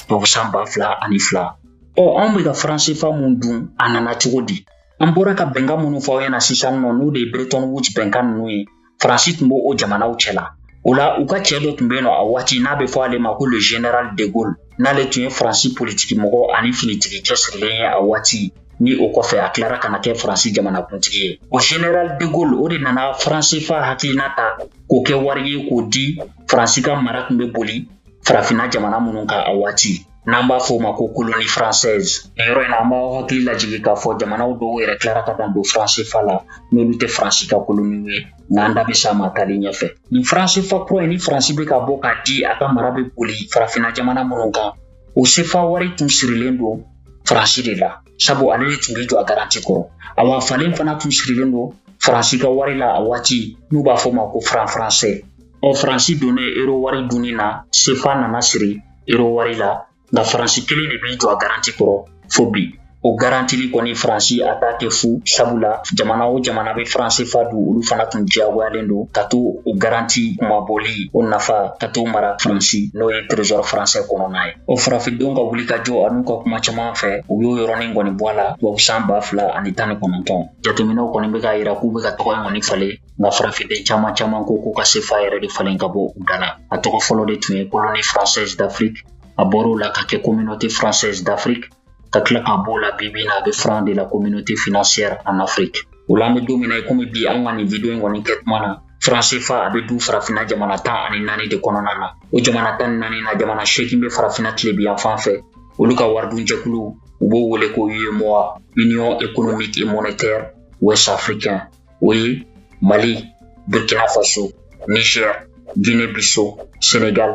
tubabu san ba fila ani fila ɔ anw bɛ ka faran sefa min dun a nana cogo di an bɔra ka bɛnkan minnu fɔ aw ɲɛna sisan nɔ n'o de ye bretton woods bɛnkan ninnu ye faransi tun bɛ o jamanaw cɛ la o la u ka cɛɛ dɔ tun bɛ yen nɔ a waati n'a bɛ fɔ ale ma ko le général de gaulle n'ale tun ye faransi politiki mɔgɔ ani finitigi cɛsirilen ye a waati ni o kɔfɛ a tilara ka na kɛ faransi jamanakuntigi ye o général de gaulle o de nana faran sefa hakilina ta k'o kɛ wari ye k'o di faransi ka mara tun bɛ boli farafinna jamana minnu kan a waati n'an b'a fɔ o ma ko koloni française nin yɔrɔ in na an b'aw hakili lajigin k'a fɔ jamanaw dɔw yɛrɛ tilara ka dan don faran sefa la n'olu tɛ faransi ka koloniw ye n'an da bɛ s'a ma taali ɲɛfɛ nin faran sefa kura in ni faransi bɛ ka bɔ k'a di a ka mara bɛ boli farafinna jamana minnu kan o sefa wari tun sirilen don faransi de la sabu ale de tun bɛ jɔ a garanti kɔrɔ awa falen fana tun sirilen don faransi ka wari la a waati n'u b'a fɔ ma ko faran faransɛ ɔ faransi donnen euro wari dunni na sefa nana siri euro wari la nka faransi kelen de b'i jɔ a garanti kɔrɔ fo bi o garantili kɔni faransi a t'a kɛ fu sabula jamana o jamana bɛ faran sefa dun olu fana tun diyagoyalen don ka to o garanti kunmabɔli o nafa ka to mara faransi n'o ye trésor faransɛ kɔnɔna ye o farafindenw ka wulikajɔ an'u ka kuma caman fɛ u y'o yɔrɔnin kɔni bɔ a la tubabusan ba fila ani tan ni kɔnɔntɔn jateminɛw kɔni bɛ k'a yira k'u bɛ ka tɔgɔ in kɔni falen nka farafinden caman caman ko k'u ka sefa yɛrɛ de falen ka bɔ u da la a tɔgɔ fɔlɔ de tun ye koloni française d'afrique a bɔr'o la ka kɛ communauté française d'afrique ka tila ka b'o la bi bi in na a bɛ franc de la communauté financière en afrique o la an bɛ don min na i komi bi an ka nin video in kɔni kɛ tuma na faran sefa a bɛ dun farafinna jamana tan ani naani de kɔnɔna na o jamana tan ni naani na jamana seegin bɛ farafinna tilebin yanfan fɛ olu ka waridunjɛkulu u b'o wele ko uemoa union économique et monétaire ouest africain o ye mali burkina faso niger guinée bissau sénégal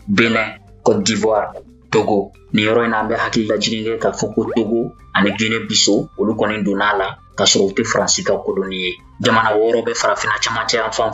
bénin côte d'ivoire togo nin yɔrɔ in na an bɛ hakili lajigin kɛ k'a fɔ ko togo ani guinée bissau olu kɔni donna a la k'a sɔrɔ u tɛ faransi ka koloni ye jamana wɔɔrɔ bɛ farafinna cɛmancɛ yanfan fɛ